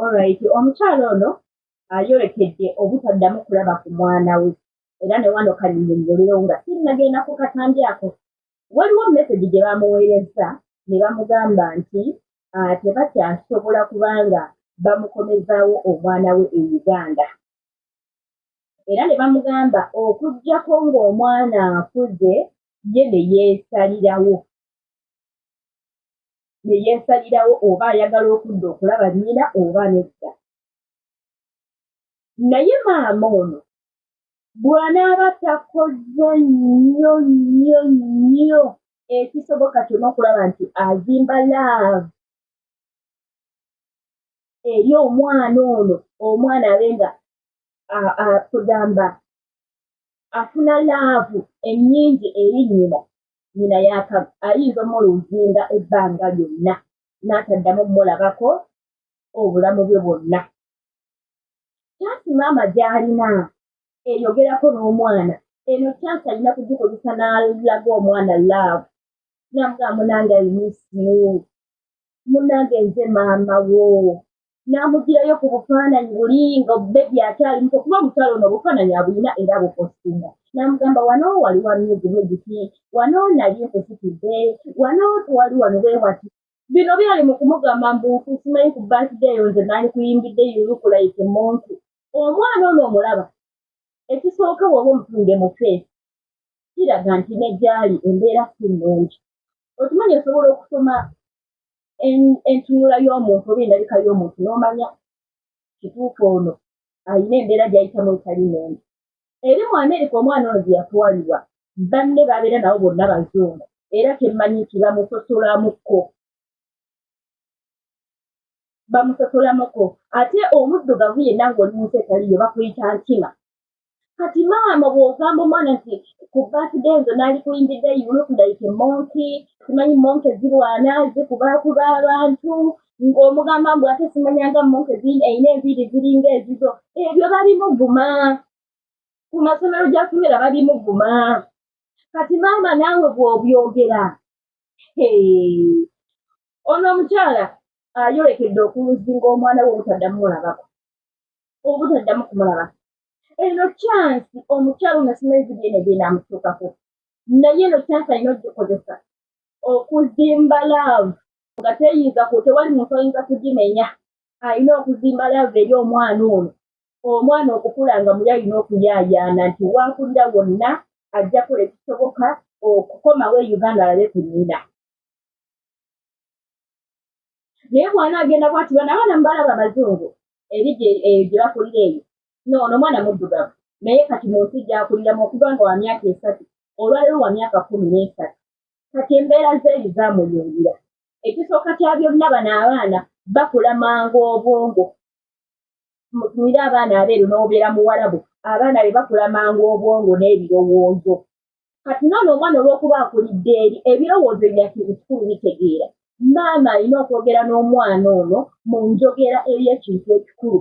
Alright, omukyala ono ayolekedde obutaddamu kulaba ku mwana we era ne wano kanyinnyonnyolerewo nga sinnagenda ku katambi ako waliwo mesegi gye baamuweerezza ne bamugamba nti ah, tebakyasobola kubanga bamukomezaawo omwana we e uganda era ne bamugamba okugyako ng'omwana akuze ye ne yeesalirawo ne yeesalirawo oba ayagala okudda okulaba nnyina oba nedda naye maama ono bw'anaaba takoze nnyo nnyo nnyo ekisoboka kyona okulaba nti azimba laavu eri omwana ono omwana abe nga kugamba afuna laavu ennyingi eri nnyina nyina yaka ayinza omumola ozinda ebbanga lyonna n'ataddamu omumolabako obulamu bwe bwonna kyansi maama gy'alina eyogerako n'omwana eno kyansi alina kugikozesa n'alaga omwana laavu namugaa munange ayinisiu munange nze maama wo n'amugirayo ku bufaananyi buli nga bebi akyali muto kuba omukyalo ono obufaananyi abulina era bukosinga n'amugamba wano wali wa myezi bwegiti wano nali nkusitidde wano twali wano bwe wati bino byali mu kumugamba mbu kusimanyi ku baside eyo nze naali kuyimbidde yulukulaike muntu omwana ono omulaba ekisooka woba omutunde mu feesi kiraga nti ne gyali embeera si nnungi okimanyi osobola okusoma entunula y'omuntu oba endabika y'omuntu n'omanya kituufu ono alina embeera gyayitamu etali nungi eri mu amerika omwana ono gye yatwalibwa banne babeera nabo bonna bazungu era kyemmanyi nti bamusosolamuko bamusosolamuko ate omuddugavu yenna ng'oli munsi etaliyo bakuyita nkima kati maama bwogamba omwana nti ku birthday nze naali kuyimbidde you look like a monkey simanyi monke zirwana zikubakuba abantu ng'omugamba mbu ate simanyanga monke erina enviiri ziringa ezizo ebyo babimuguma ku masomero gyasomera babimuguma kati maama naawe bw'obyogera ono omukyala ayolekedde okuluzinga omwana we obutaddamu mulabako obutaddamu kumulabako eno kyansi omukyalo nasoma ebizibu byene byenamutuukako naye eno kyansi alina ogikozesa okuzimba laavu nga teyinza ku tewali muntu ayinza kugimenya alina okuzimba laavu eri omwana ono omwana okukula nga muli alina okuyaayaana nti waakulira wonna ajja kola ekisoboka okukomawo e uganda alabe ku nnyina naye bwana agenda bwati bana abaana mubalaba abazungu eri eyo gye bakulira eyo noono omwana muddugavu naye kati mu nsi gyakuliramu okuva nga wa myaka esatu olwaliro wa myaka kumi n'esatu kati embeera zeeyi zamuyungira ekisooka kya byonna bano abaana bakula mangu obwongo mutumire abaana abeeru n'obeera muwarabu abaana be bakula mangu obwongo n'ebirowoozo kati nono omwana olwokuba akulidde eri ebirowoozo ebyakintu kikulu bitegeera maama alina okwogera n'omwana ono mu njogera eri ekintu ekikulu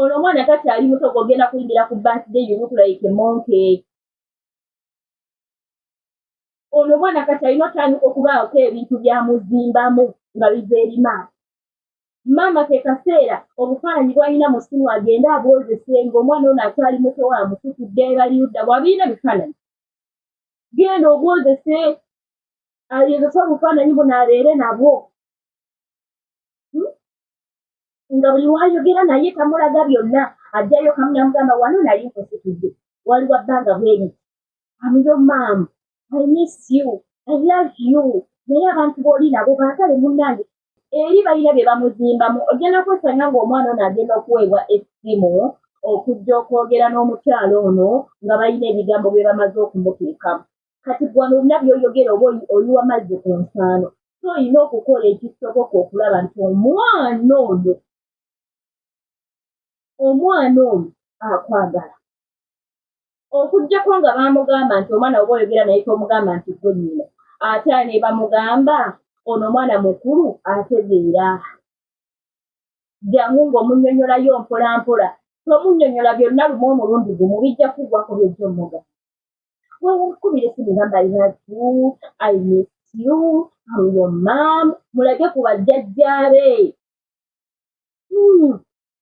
ono omwana kati ali muto gogenda kuyingira ku birthday you look like a monkey ono omwana kati alina otandika okubaako ebintu byamuzimbamu nga biva eri maama maama ke kaseera obufaananyi bwalina mu ssimu agende abwozese ng'omwana ono akyali muto wa mukutudde ebaliyudda bwabirina bifaananyi genda obwozese ayozese obufaananyi buno abeere nabwo hmm? nga buli wayogera naye tamulaga byonna ajjayo kamu namugamba wano nali nkusitudde waliwa bbanga bweri amiyo maamu i miss you i love you naye abantu booli nabo baagale munnange eri balina bye bamuzimbamu ogenda kwesanga ng'omwana ono agenda okuweebwa essimu okujja okwogera n'omukyalo ono nga balina ebigambo bye bamaze okumuteekamu kati gwano olina byoyogera oba oyiwa mazzi ku nsaano so olina okukola ekisoboka okulaba nti omwana ono omwana ono akwagala okujjako nga bamugamba nti omwana oba oyogera naye tomugamba nti gwe nyina ate ne bamugamba ono omwana mukulu ategeera jangu ng'omunyonyolayo mpolampola tomunyonyola byonna lumu omulundi gumu bijja kuggwako byejja omuga wewukumire simugamba iratu i miss you amuyo mam mulage ku bajjajjaabe hmm.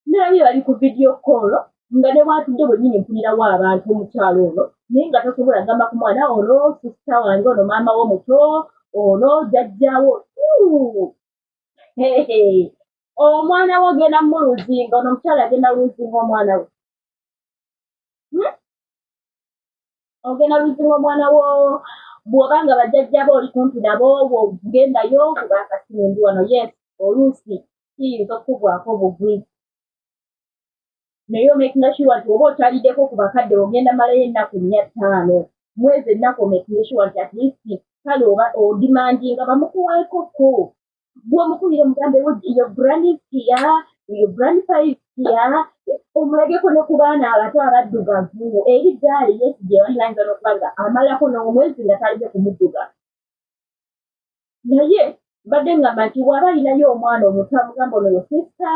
naye bali ku vidiyo koolo nga ne bwatudde bwennyini mpulirawo abantu omukyalo ono naye nga tosobola gamba ku mwana ono sisita wange ono maama wo muto ono jajjawo omwana wo ogenda muluzinga ono omukyalo agenda luzinga omwana we hmm? ogenda luzinga omwana wo bwoba nga bajjajjaba oli kumpi nabo obwo gendayo kuba akasina endi wano yes oluusi kiyinza okukugwako obugwi naye omakinga sure nti oba okyaliddeko ku bakadde ogenda malayo ennaku nnya ttaano mwezi ennaku omakinga sure nti atleast kale oba odimandinga bamukuweeko ko gwomukubire mugambe yo brandis kia yo brand five kia omulageko ne ku baana abato abaddugavu eri gaali yesi gye balinayinza n'okuba nga amalako n'omwezi nga talize kumudduga naye mbadde ngamba nti waba alinayo omwana omuto amugamba ono yo sista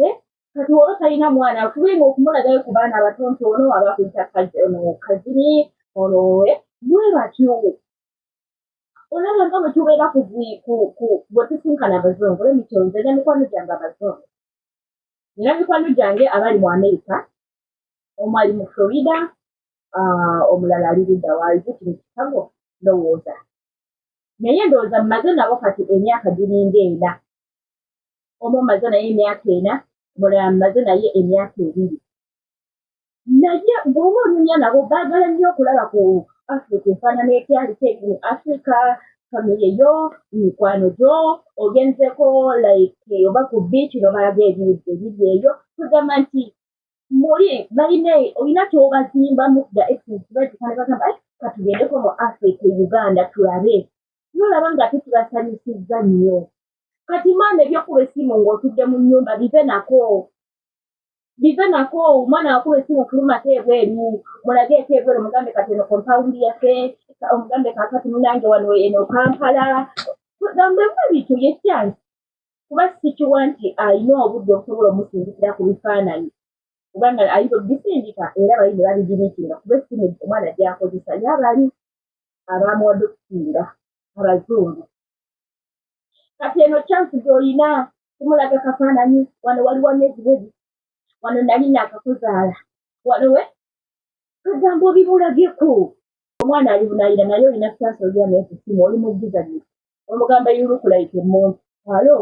eh? kati waba talina mwana tube nga okumulagayo ku baana abato nti ono aba kuyita kazini ono eh? mwe batyo olaba nga bwe tubeera bwe tusinkana abazungu lemikyonze ne mikwano gyange abazungu nina mikwano gyange abali mu amerika omu ali mu florida ah, omulala ali ludda waaliku kino kikago ndowooza naye ndowooza mumaze nabo kati emyaka giringa ena omu omaze naye emyaka ena omulala mumaze naye emyaka ebiri naye bwoba onyumya nabo bagala nnyo okulaba ku africa efaanana ekyali kyekini africa famire yo mikwano gyo ogenzeko like oba ku beach nobalaga ebiri eyo tugamba nti muli balina olina kyobazimbamu da exsbagamba eh, katugendeko mu africa e uganda tulabe nolaba nga tetubasanyusizza nnyo kati maama ebyokuba esimu ng'otudde mu nnyumba bive nako bive nako omwana wakulu esimu fuluma ate ebweru mulage ete ebweru mugambe kati eno kompawundi yaffe omugambe kakati munange wano eno kampala gambemu ebintu yekyansi kuba sikiwa nti alina obudde okusobola omusindikira ku bifaananyi kubanga ayinza obisindika era bali ne babigiriikinga kuba esimu omwana gyakozesa ye abali abaamuwadde okusinga abazungu kati eno chansi gyolina kumulaga kafaananyi wano waliwo myezi bwedi wano nali nakakuzaala wano we kagambo bimulageko omwana ali bunayira naye olina chansi olya nekusimu oli mujjizanyi omugamba yulukulaike muntu alo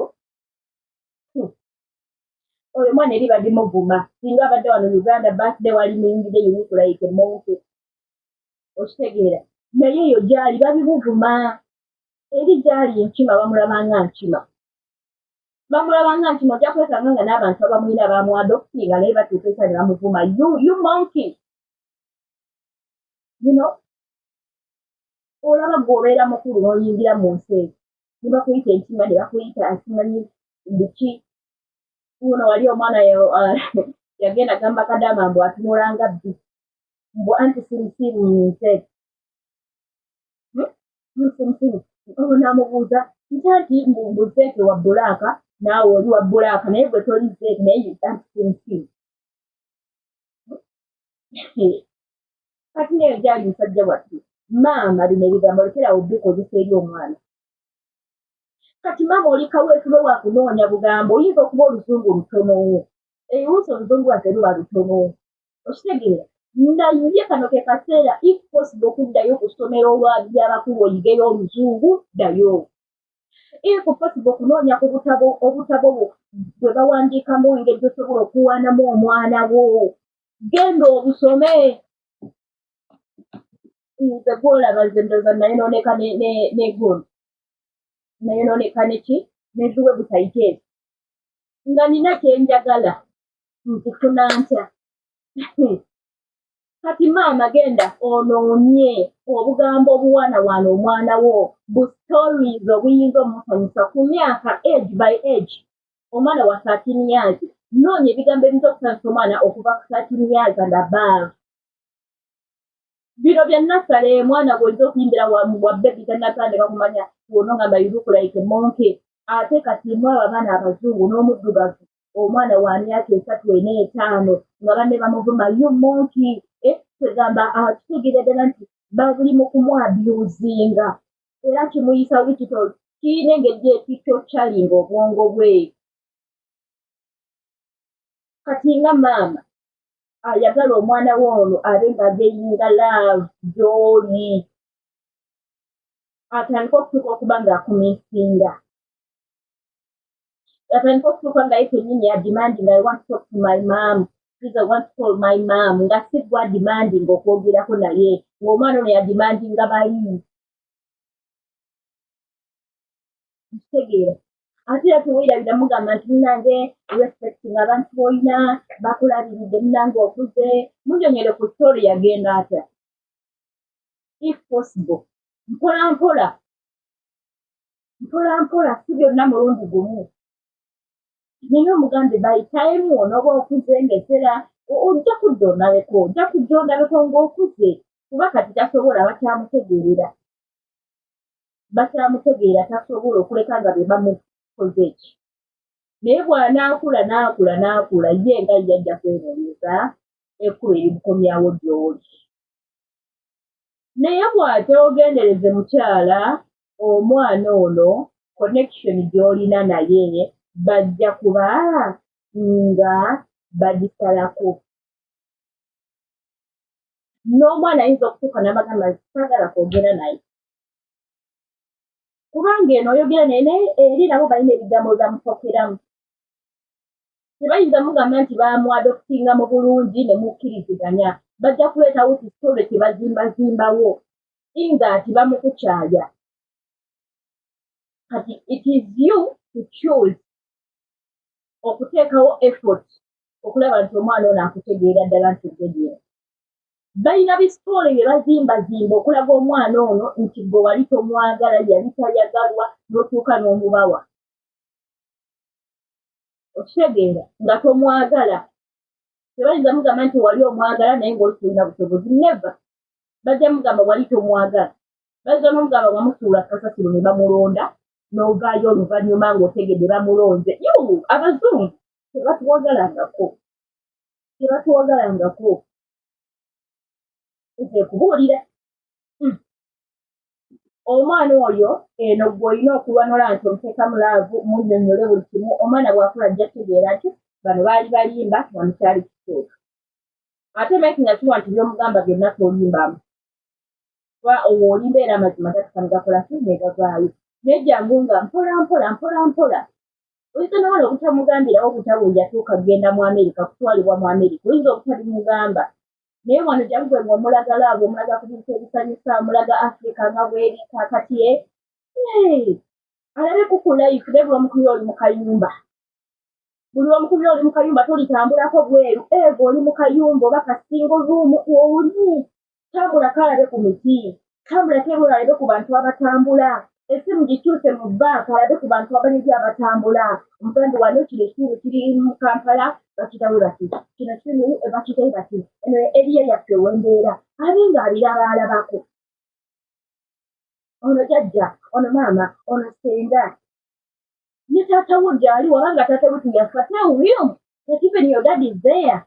oyo mwana eri badi muvuma singa abadde wano uganda birthday wali muyingide yulukulaike muntu okitegeera naye eyo gyali babimuvuma eri gyali enkima bamulabanga nkima bamulabanga nkima ojja kwesanga nga n'abantu abamwina bamwadokutinga naye batuuka esa ne bamuvuma you monkey you know olaba gwe obeera mukulu n'oyingira mu nsi eyo ne bakuyita enkima ne bakuyita asimanyi biki uno wali omwana uh, yagenda gamba kadama mbu atunulanga bbi mbu anti sirisiibu mu nsi eyo musinsiru obo namubuuza nti anti mbu zeeke wa bulaaka naawe oli wa bulaaka naye gwe toli zeeke naye yuantisinsiru kati neyo gyali musajja wattu maama bino ebigambo lekerawo bikozesa eri omwana kati maama oli kaweefube wa kunoonya bugambo oyinza okuba oluzungu olutonowo ebiwuusa oluzungu wate luba lutonowo okitegeera naye kano ke kaseera if possible okuddayo ku ssomero olwabyabakulu oyigeyo oluzungu ddayo if possible okunoonya ku butabo obutabo bwe bawandiikamu engeri gyosobola okuwaanamu omwana wo genda obusome nze gwolaba nze ndoza nayonooneka negondi nayonooneka neki neziwe butayiteezi nga nina kyenjagala nkufuna ntya kati maama genda onoonye obugambo obuwana wana omwana wo bu stories obuyinza omusanyusa ku myaka age by age omwana wa thirteen years noonya ebigambo ebinza okusanyusa omwana okuva ku thirteen years and above bino bya nasale mwana gwoyinza okuyimbira wa bebi tanatande bakumanya wonongamba iruku like monke ate kati mwabo abaana abazungu n'omuddugavu omwana wa myaka esatu ena etaano nga banne bamuvuma yo monki eh, kwegamba ah, kitegeera ddala nti bali mu kumwabyuzinga era kimuyisa wikito kirina engeri ekikyocalinga obwongo bwe kati nga maama ayagala omwana we ono abe nga ageyinga laavu gyoli atandika okutuuka okuba ng'akumisinga yatandika okutuuka nga ye kenyini yadimandi nga want talk to my mam iza want call my mam nga si gwa dimandi nga okwogerako naye ngaomwana ono yadimandi nga bali kitegeera ate era teweyabira mugamba nti munange respect nga abantu boyina bakulabiridde munange okuze munyonyere ku story yagenda atya if possible mpola mpola mpola mpola si byonna mulundi gumu naye omugambe bayitayemu onooba okuze ngaesera ojja kudda ondabeko ojja kujja ondabeko ng'okuze kuba kati tasobola bakyamutegeerera bakyamutegeera tasobola okuleka nga be bamukoze eki naye bw'anaakula n'akula n'akula ye nga ye ajja kwenoonyeza ekkuba erimukomyawo gy'oli naye bw'atyogendereze mukyala omwana ono connection gy'olina naye bajja kuba nga bagisalako n'omwana ayinza okutuuka n'abagamba nti saagala kwogera naye kubanga eno oyogera naye naye eri nabo balina ebigambo byebamupokeramu tebayinza mugamba nti bamwadokusinga mu bulungi ne mukkiriziganya bajja kuleetawo kisitole kye bazimbazimbawo inga ati bamukukyaya kati it is you to choose okuteekawo effort okulaba nti omwana ono akutegeera ddala nti ogenyera balina bisitoole bye bazimbazimba okulaga omwana ono nti gwe wali tomwagala yali tayagalwa notuuka n'omubawa okitegeera nga tomwagala tebayinza mugamba nti wali omwagala naye ngaoli tulina busobozi neva bajja mugamba wali tomwagala bayinza nomugamba nga musuula kasasiro ne bamulonda novaayo oluvanyuma ngaotegedde bamulonze yo abazungu tebatuwagalangako tebatuwagalangako nze kubuulira hmm. omwana oyo eno gweolina okulwanula nti omuteeka mu laavu munyonyole buli kimu omwana bwakula ajja kutegeera nti bano baali balimba nga mukyali kituufu ate making sure nti byomugamba byonna tolimbamu kuba owo olimba era amazima gatukanegakola ki negavaayo naye jangu nga mpola mpola mpola mpola oyinza nowala obutamugambirawo obutabo yatuuka kugenda mu amerika kutwalibwa mu amerika oyinza obutabimugamba naye wano jangwe nga omulagala abo omulaga ku bintu ebisanyusa omulaga afrika nga bweri kakati e alabe kukulayifu nebulomukuli oli mukayumba buli omukubi oli mukayumba tolitambulako bweru eva oli mukayumba oba kasingo ruumu oli tambula kalabe ku miti tambula kebula alabe ku bantu abatambula esimu gikyuse mu banka alabe ku bantu abanegi abatambula omuganda wano kino ekitundu kiri mu kampala bakitawe bati kino kitundu bakitawe bati eno eriya yaffe wembeera abe nga abirabaalabako ono jajja ono maama ono senga ne taata wo gyali waba nga taata wetu yafa tell him that even your dad is there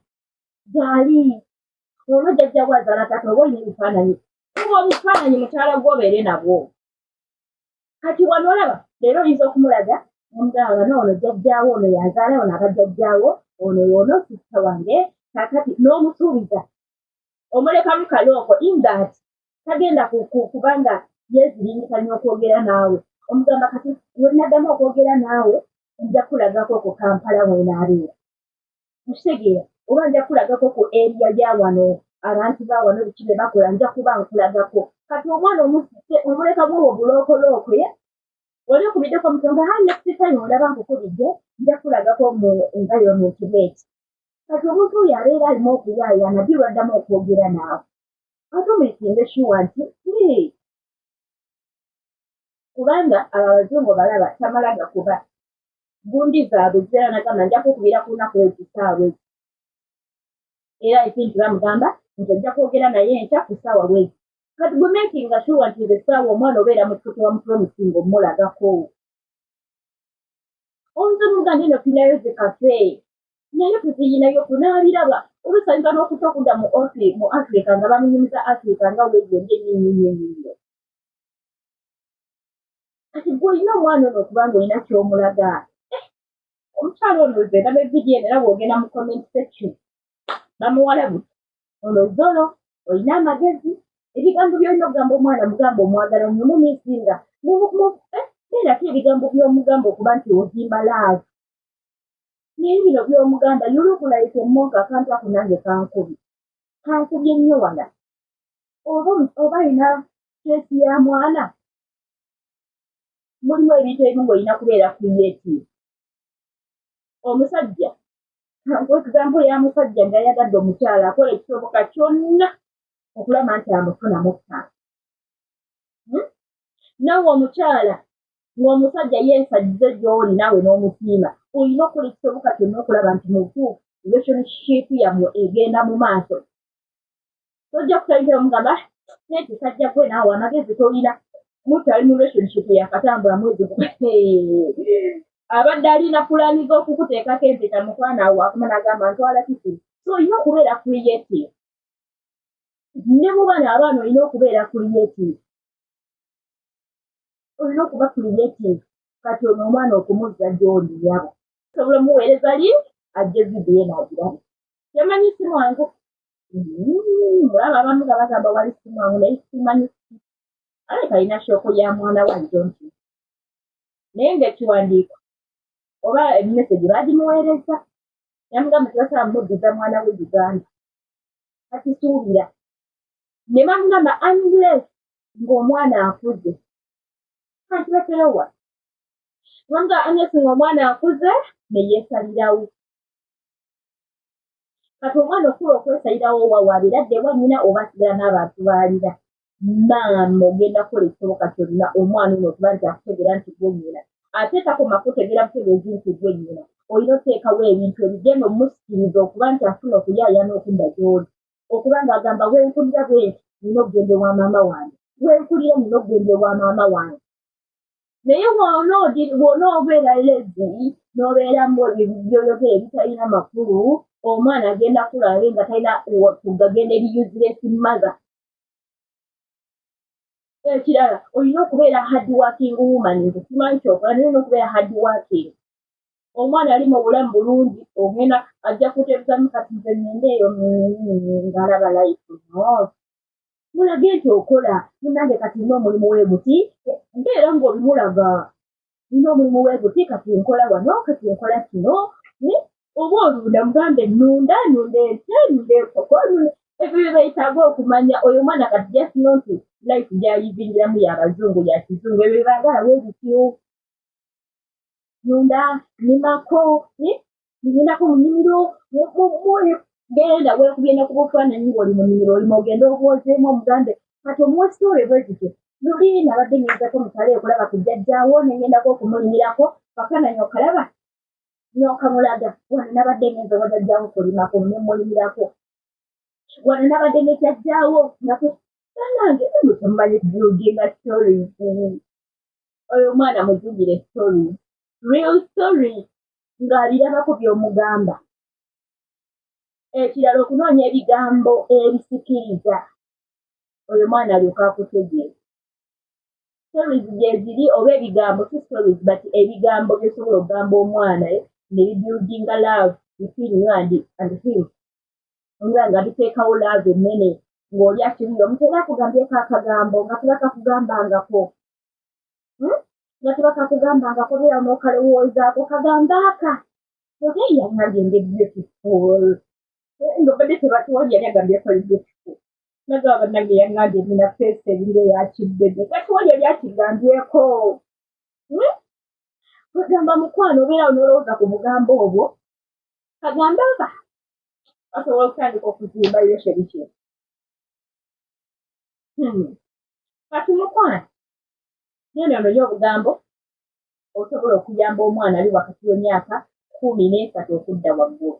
gyali olwo jajja wo azaala taata oba olina ebifaananyi kuba obufaananyi mukyala gwo obeere nabwo kati wano olaba leero oyinza okumulaga omugamba noono jajjaawo ono yazaala ono abajajjaawo ono yoono sisita wange kakati n'omusuubiza omulekamu kalooko ingat tagenda kuba nga yeziringisa nyo okwogera naawe omugamba kati wenaddamu okwogera naawe nja kulagako ku kampala wenaabeera okitegeera oba nja kulagako ku eriya ya wano abantu ba wano biki be bakola nja kuba nkulagako kati omwana omusise omuleka bwowo bulookolookwe oli okubiddeko omutonga ha nekisitayo olaba nkukubidde nja kulagako mu environment bweti kati omuntu oyo abeera alimu okuyaayana birwaddamu okwogera naawe batumikinge shuwa nti kubanga abo abazungu balaba tamala gakuba gundi zaabwe zibeera nagamba nja kukubira ku lunaku ekisaawe era ekintu bamugamba nti ojja kwogera naye enkya ku saawa bwezi kati gwe makinga shuwa nti nze saawa omwana obeera mutukutu wamutula omusinga omulagako omuze muganda eno tunayo zikafe naye tuziyinayo tunabiraba olusanyiza n'okuta okudda mu ofi mu afrika nga bamunyumiza afrika nga wegende nyinyinyinyiyo kati gwe olina omwana ono okuba nga olina kyomulaga eh, omukyalo ono ze ndaba evidiyo eno era bwogenda mu comment section bamuwala bu ono zolo olina amagezi ebigambo byolina okugamba omwana mugamba omwagala nyumumisinga eh, beerako ebigambo byomugamba okuba nti ozimba laavu naye bino byomugamba yulugulaike monka akantu ako nange kankubi kankubye nnyo wala oba oba alina keesi ya mwana mulimu ebintu ebimu ngaolina kubeera creative omusajja kankuekigambo ya musajja nga yagadde omukyala akola ekisoboka kyonna okulaba nti amufuna mukka hmm? nawe omukyala ng'omusajja yeesajjize gy'oli naawe n'omusiima olina okukola ekisoboka kyonna okulaba nti mubutuufu relationship yammwe egenda mu maaso tojja kutandikira mugamba ah, naye kisajja gwe naawe amagezi tolina mutali mu relationship yakatambula mwezi abadde alina pulaani z'okukuteekako empeta mukwana awo akuma nagamba ntwala kiki so olina okubeera creative ne mu bana abaana olina okubeera creative olina okuba creative kati ono omwana okumuzza gyoli yabo sobola omuweereza link ajje vidiyo enagirabe temanyi si mwangu mm, mulaba abamu nga bagamba wali si mwangu naye simanyi ale kalina shooko ya mwana wa jonti naye ngaekiwandiiko oba emesegi bagimuweereza namugamba tebasaba muddiza mwana we uganda kakisuubira ne bamugamba unless ng'omwana akuze kanti baterowa kubanga anyesi ng'omwana akuze ne yeesalirawo kati omwana okula okwesalirawo wawaabira ddewa nnyina oba asigala n'abantu baalira maama ogenda kukola ekisoboka kyonna omwana ono okuba nti akutegeera nti gwe nnyina ate takoma kutegeera butegeezi nti gwe nnyina olina oteekawo ebintu ebigenda omusikiriza okuba nti afuna okuyaayaana okudda gy'oli okuba ng'agamba wenkulira bwenti nina okugenda ewa maama wange wenkulira nina okugenda ewa maama wange naye wona obeera lezi nobeeramu byoyogera ebitalina makulu omwana agenda kulabe nga talina kugagenda eriyuziresi mother ekirala olina okubeera hard working woman nze simanyi kyokola naye olina okubeera hard working omwana ali mu bulamu bulungi ogenda ajja kuteezamu kati nze ngende eyo ngaalaba life not mulage nti okola munange kati nina omulimu weguti mbeera ngaobimulaga nina omulimu weguti kati nkola wano kati nkola kino eh, oba olunda mugambe nunda nunda ente nunda enkoko ebyo byebayitaaga okumanya oyo omwana kati jasino nti life gyayizingiramu yabazungu yakizungu ebyo byebaagala webityo nunda nimako ngendako mu nnimiro genda wekubye ne ku bufaananyi ng'oli mu nnimiro olima ogenda obwozeemu omugambe kati omuwa sitore bwe zityo luli nabadde ngendako mukale okulaba ku jjajjaawo ne ngendako okumulimirako kafaananyi okalaba n'okamulaga wano nabadde ngenza oba jajjaawo kulimako ne mulimirako wano nabadde ne jajjaawo naku banange mutumanyi buildinga stories oyo omwana mujugire story real story ng'alirabako by'omugamba ekirala okunoonya ebigambo ebisikiriza oyo mwana alyoka akutegeera stories gyeziri oba ebigambo si stories but ebigambo byosobola okugamba omwana eh, ne bibuildinga love between you and, and him nga nga biteekawo love enene ng'oli akiwuyo omutera akugambyeko akagambo nga tera kakugambangako nga tuba kakugamba nga kobeera nokalowoozaako kagamba aka oba yali agende beautiful nga badde tebatuwali yali agambye akali beautiful naga banange yangambye nina feesi ebinga eyakibbede katuwali yali akigambyeko hmm? kwegamba mukwano obeerawo nolowooza ku bugambo obwo kagamba aka asobola okutandika okuzimba yosherikye hmm. kati mukwano nene ononye obugambo osobola okuyamba omwana ali wakati w'emyaka kumi n'esatu okudda waggulu